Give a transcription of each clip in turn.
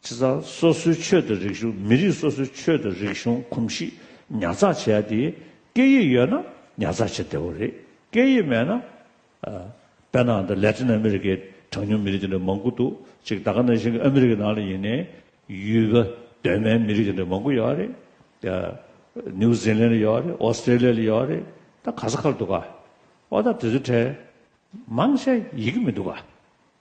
སྤྱི་ཚགས་སོ་སོའི་ཆོས་དང་རིག་གཞུང་མི་རིགས་སོ་སོའི་ཆོས་དང་རིག་གཞུང་གོམས་གཤིས་ཉར་ཚགས་བྱས་ཏེ། སྐད་ཡིག་ཡོད་ན་ཉར་ཚགས་བྱེད་བདེ་བོ་རེད། སྐད་ཡིག་མེད་ན། པེ་ནང་དང་ལེ་ཏིན་ཨ་མི་རི་ཀའི་གྲངས་ཉུང་མི་རིགས་དེ་འདྲ་མང་པོ་འདུག་ཅིག་ད་ག་ནང་བཞིན་ཨ་མི་རི་ཀའི་ནང་ལ་ཡིན་ནའི་ཡུལ་བ་གདོད་མའི་མི་རིགས་དེ་འདྲ་མང་པོ་ཡོད་རེད། ནིའུ་ཟི་ལན་ལ་ཡོད་རེད་ཨོ་སི་ཏྲེ་ལི་ཡ་ལ་ཡོད་རེད་ད་ག་ས་ཁ་ལ་འདུག་ག། འོ་ད་དེ་ཚོའི་གྲས་མང་ཆེ་ཡིག་གི་མི་འདུག་ག།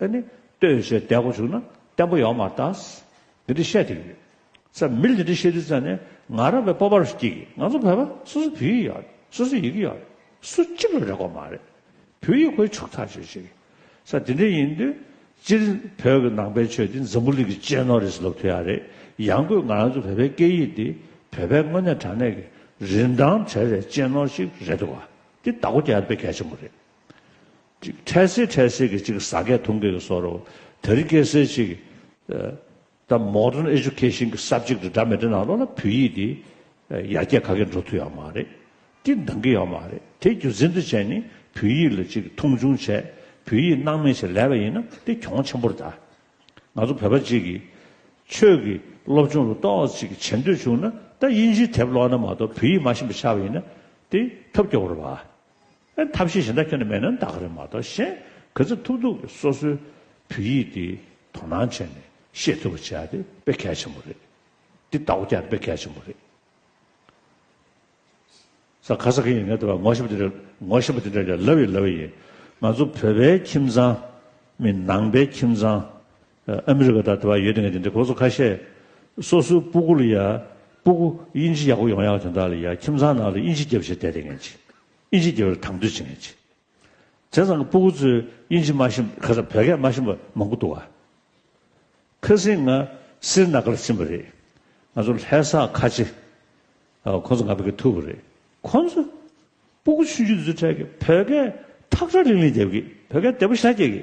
ཨེ་ནི། ལྟོས་ཡོད་ཅེས་བརྡས་གོ་བཅུག་ན་བརྟན་པོ་ཡོང་བར་ལྟ། འདི་འདྲི་བཤད་དེ་ཡོད། ས་མིར་འདི་འདྲི་བཤད་དུས་ཙང་ནས་ང་རང་བའི་སྤོབས་པར་སྐྱེས་གི་ང་ཚོ་བོད་པ་སོ་སོ་བོད་ཡིག་ཡག་རེད་སོ་སོ་ཡི་གེ་ཡག་རེད་སུ་གཅིག་ལ་རེ་གོ་མ་རེད། བོད་ཡིག་ཁོའི་ཕྱུག་ཐག་ཆོད་ཅིག། ས་འདི་འདྲི་ཡིན་དུས་སྤྱིར་བོད་ཀྱི་ནང་པའི་ཆོས་འདི་འཛམ་བུ་གླིག་གི་གཅེས་ནོར་རེད་ལབ་ཐུ་ཡག་རེད་ཡང་སྒོས་ང་རང་ཚོ་བོད་པའི་སྐད་ཡིག་འདི་བོད་པའི་དངོས་གནས་དྲང་གནས་ཀྱི་རིན་ཐང་བྲལ་བའི་གཅེས་ནོར་ཞིག་རེད་འདུག་བ་འདི་བདག་གོ་རྒྱ་ཡར་སྤེལ་གལ་ཆེན་པོ་རེད། གཅིག་འཕྲལ་སེལ་འཕྲལ་སེལ་གྱི་གཅིག་ཟ་སྐད་ཐུང་སྐད་ཀྱི་སོགས་རོ། དེ་རིང་སྐད་སེལ་གཅིག། ད Modern Education གྱི་ས་བཅིག་ཏུ་འདྲ་མི་འདྲ་ནང་ལོགས་ལ་བོད་ཡིག་འདི། ཡར་རྒྱས་ག་གེ་འགྲོ་ཐུབ་ཡག་མ་རེད། སྤྲིན་འདང་གི་ཡག་མ་རེད་དེ་རྒྱུ་མཚན་དུ་བྱས་ནི་བོད་ཡིག་ལ་གཅིག་མཐོང་ཆུང་བྱས། བོད་ཡིག་སྣང་མེད་བྱས་ལས་པ་ཡིན་ན་དེ་གྱོང་ཆེན་པོར་གདའ། ང་ཚོ་བོད་པ་གཅིག་གིས། ཆོས་ཀྱི་སློབ་སྦྱོང་ལ་གཏོགས་གཅིག་བྱེད་འདོད་བྱུང་ན་ད་དབྱིན་ཇིའི་དེབ་ཀློག་ན་མ་གཏོགས་བོད་ཡིག་མ་ཤེས་པ་ཆགས་པ་ཡིན་ན་དེ་ཐབས་སྐྱོ་བོར་བ། ཨེ་ཐབས་ཤེས་གཞན་ད་ཁྱོད་ནི་མེད་ན་འདག་རེད་མ་གཏོགས་གཞན་ག་ཚད་ཐུབ་ཐུབ་ཀྱི་སོ་སོའི་བོད་ཡིག་འདི་དོ་སྣང་བྱས་ནས་ཤེས་ཐུབ་པ་བྱས་ཏེ་དཔེ་གལ་ཆེན་པོ་རེད། འདི་ལྟ་བུ་བསྐྱར་དཔེ་གལ་ཆེན་པོ་རེད། ས་ག་ས་ག་ཡིན་ངེས་དེ་བས་ངོ་ཤེས་པ་དེ་འདྲ་ངོ་ཤེས་པ་དེ་འདྲ་ཀྱང་ལབ་ཡི་ལབ་ཡི་ཡིན། ང་ཚོ་བོད་པའི་ཁྱིམ་ཚང་མིན་ནང་པའི་ཁྱིམ་ཚང། ཨ་མི་རི་ཀ་དང་དེ་བ་ཡོད་དེ་ངས་དེ་འདྲའི་གོ་ཚོ་ཁ་ཤས་སོ་སོའི་སྤུ་གུ་ལ་ཡ་སྤུ་གུ་དབྱིན་ཇི་ཡག་པོ་ཡོང་ཡག་དེ་འདྲ་ལ་ཡ་ཁྱིམ་ཚང་ནང་ལ་དབྱིན་ཇི་རྒྱབ་བྱེད་བསྡད་དེ་ངས་ཅི་དབྱིན་ཇི་རྒྱབ་ལ་དང་དོད་ཅི་ངས་ཅི་དེ་ཚང་གི་སྤུ་གུ་ཚོས་དབྱིན་ཇི་མ་ཤེས་ཁ་སང་བོད་སྐད་མ་ཤེས་པ་མང་པོ་འདུག་ཨ་ཁ་སིང་ང་སིར་ནཱ་ག་ལ་ཕྱིན་པ་རེད་ང་ཚོ་ལྷས་ས་ཁ་ཆེ་ཨ་ཁོང་ཚོ་ང་བོད་སྐད་ཐུབ་པ་རེད་ཁོང་ཚོས་སྤུ་གུ་ཆུན་ཆུན་དེ་ཚོའི་གྲས་ཀྱི་བོད་སྐད་ཐག་ཁྲ་ལིང་ལིང་རྒྱབ་གི་བོད་སྐད་བདེ་པོ་ཤ་རྒྱག་གི།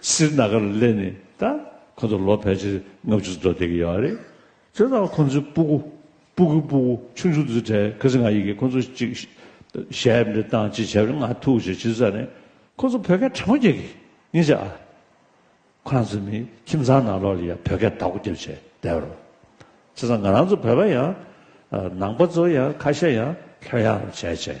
སིར་ནཱ་གཱར་སླེབས་ནས་ད་ཁོ་ཚོ་ལོ་ཕལ་ཆེར་ལྔ་བཅུ་འགྲོ་བསྡད་ཀྱི་ཡོད་རེད། དེ་ལྟར་ཁོ་ཚོའི་སྤུ་གུ། Puku Puku། ཆུང་ཆུང་དུ་གྲས་ཁི་སི་ང་ཡིག་གིས་ཁོ་ཚོ་ཅིག། ཞལ་འདྲི་དང་ཅིག་བྱས་པས་ང་ཐུགས་རྗེ་ཆེ་ས་ནས། ཁོ་ཚོ་བོད་སྐད་ཕྲ་མོ་རྒྱག་གི། ངེད་ཅག། ཁོ་རང་ཚོའི་མིའི་ཁྱིམ་ཚང་ནང་ལོགས་ལ་ཡང་བོད་སྐད་དག་གོ་རྒྱབ་བྱས་བསྡད་པ་རོ། བྱས་ཙང་ང་རང་ཚོ་བོད་པ་ཡང། ནང་པ་ཚོ་ཡང་ཁ་ཤས་ཡང་ལྷོད་ཡངས་བྱས་བྱས།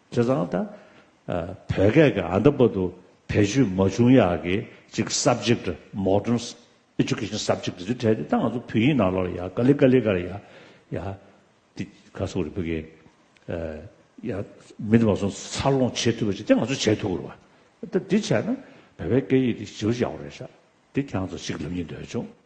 དེ་དང་ད་བོད་སྐད་ཀྱི་ཨ་མདའ་པ་དུ་བེད་སྤྱོད་མ་བྱུང་ཡག་གི་གཅིག Subject Modern Education Subject དེ་བྲལ་ཏེ་ད་ང་ཚོ་བོད་ཡིག་ནང་ལོག་ལ་ཡག་ཀ་ལི་ཀ་ལི་ཀ་ལ་ཡག་ཡག་དེ་ག་ཚོགས་རི་བོད་སྐད་ཡག་མི་དེ་བ་ཚོ་འཚར་ལོངས་བྱེད་ཐུབ་པ་ཅིག་དེ་ང་ཚོ་བྱེད་ཐུབ་རུ་བ་ད་འདི་བྱས་ན་བོད་པའི་སྐད་ཡིག་དེ་ཞི་བར་ཡག་རེད་ཤག་དེ་གྱ་ཚོ་གཅིག་ལབ་ཉིན་འདོད་བྱུང།